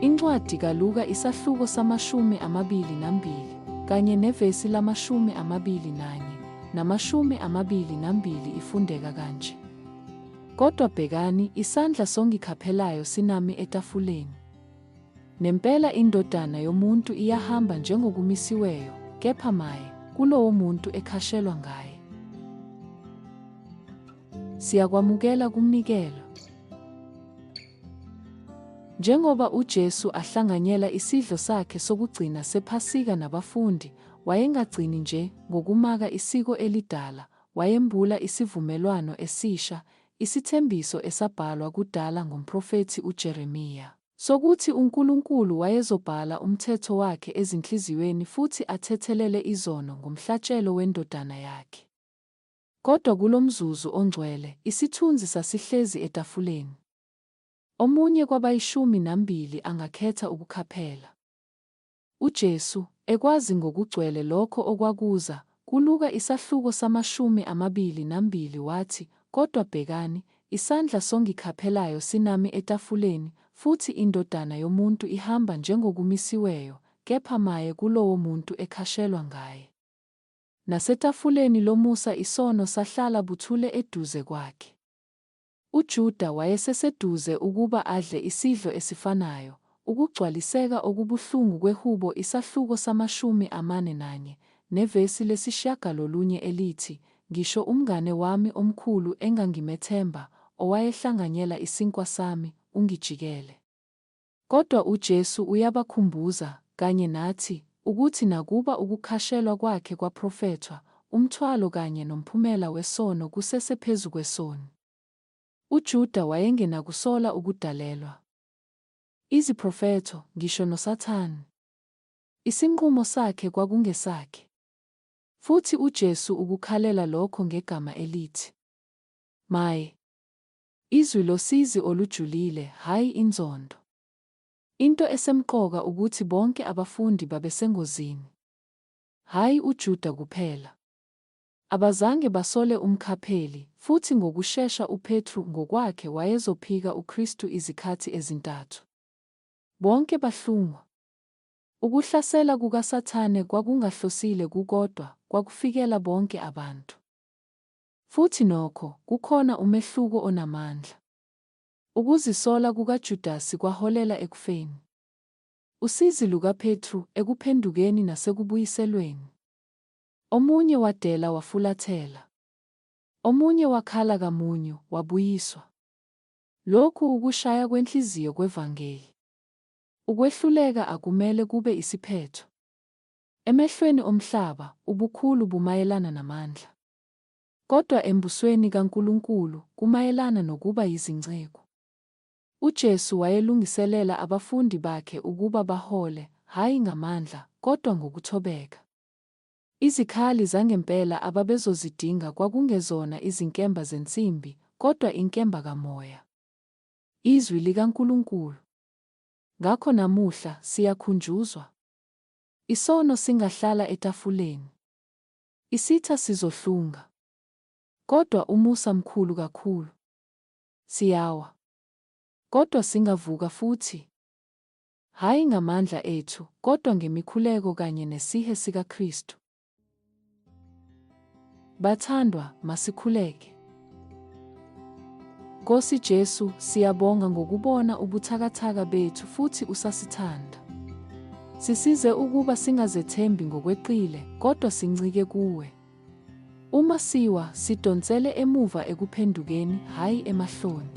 Incwadi kaLuka isahluko samashumi amabili nambili kanye nevesi lamashumi amabili nanye namashumi amabili nambili ifundeka kanje. Kodwa bhekani, isandla songikhaphelayo sinami etafuleni. Nempela indodana yomuntu iyahamba njengokumisiweyo, kepha maye kulowo muntu ekhashelwa ngaye. Siyakwamukela kumnikelo. Njengoba uJesu ahlanganyela isidlo sakhe sokugcina sePhasika nabafundi, wayengagcini nje ngokumaka isiko elidala, wayembula isivumelwano esisha, isithembiso esabhalwa kudala ngomprofethi uJeremiya, sokuthi uNkulunkulu wayezobhala umthetho wakhe ezinhliziyweni futhi athethelele izono ngomhlatshelo weNdodana yakhe. Kodwa kulomzuzu ongcwele, isithunzi sasihlezi etafuleni. Omunye kwabayishumi nambili angakhetha ukukhaphela. UJesu, ekwazi ngokugcwele lokho okwakuza, kuLuka isahluko samashumi amabili nambili, wathi, Kodwa bhekani, isandla songikhaphelayo sinami etafuleni, futhi iNdodana yomuntu ihamba njengokumisiweyo, kepha maye kulowomuntu ekhashelwa ngaye. Nasetafuleni lomusa isono sahlala buthule eduze kwakhe. UJuda wayeseseduze ukuba adle isidlo esifanayo, ukugcwaliseka okubuhlungu kweHubo isahluko samashumi amane nanye, nevesi lesishiyagalolunye elithi, Ngisho umngane wami omkhulu engangimethemba, owayehlanganyela isinkwa sami, ungijikele. Kodwa uJesu uyabakhumbuza, kanye nathi, ukuthi nakuba ukukhashelwa kwakhe kwaprofethwa, umthwalo kanye nomphumela wesono kusese phezu kwesoni. UJuda wayengenakusola ukudalelwa. Iziprofetho, ngisho noSathane. Isinqumo sakhe kwakungesakhe. Futhi uJesu ukukhalela lokho ngegama elithi, Maye! Izwi losizi olujulile, hhayi inzondo. Into esemqoka ukuthi bonke abafundi babesengozini. Hhayi uJuda kuphela. Abazange basole umkhapheli, futhi ngokushesha uPetru ngokwakhe wayezophika uKristu izikhathi ezintathu. Bonke bahlungwa. Ukuhlasela kukaSathane kwakungahlosile kukodwa, kwakufikela bonke abantu. Futhi nokho, kukhona umehluko onamandla. Ukuzisola kukaJudasi kwaholela ekufeni. Usizi lukaPetru, ekuphendukeni nasekubuyiselweni. Omunye wadela wafulathela. Omunye wakhala kamunyu, wabuyiswa. Lokhu ukushaya kwenhliziyo kwevangeli. Ukwehluleka akumele kube isiphetho. Emehlweni omhlaba, ubukhulu bumayelana namandla. Kodwa eMbusweni kaNkulunkulu kumayelana nokuba yizinceku. UJesu wayelungiselela abafundi bakhe ukuba bahole, hhayi ngamandla, kodwa ngokuthobeka. Izikhali zangempela ababezozidinga kwakungezona izinkemba zensimbi, kodwa inkemba kaMoya, iZwi likaNkulunkulu. Ngakho namuhla, siyakhunjuzwa. Isono singahlala etafuleni. Isitha sizohlunga. Kodwa umusa mkhulu kakhulu. Siyawa. Kodwa singavuka futhi. Hhayi ngamandla ethu, kodwa ngemikhuleko kanye nesihe sikaKristu. Bathandwa, masikhuleke. Nkosi Jesu, siyabonga ngokubona ubuthakathaka bethu futhi usasithanda. Sisize ukuba singazethembi ngokweqile, kodwa sincike kuwe. Uma siwa, sidonsele emuva ekuphendukeni, hhayi emahloni.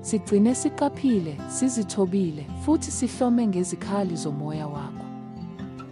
Sigcine siqaphile, sizithobile, futhi sihlome ngezikhali zomoya wakho.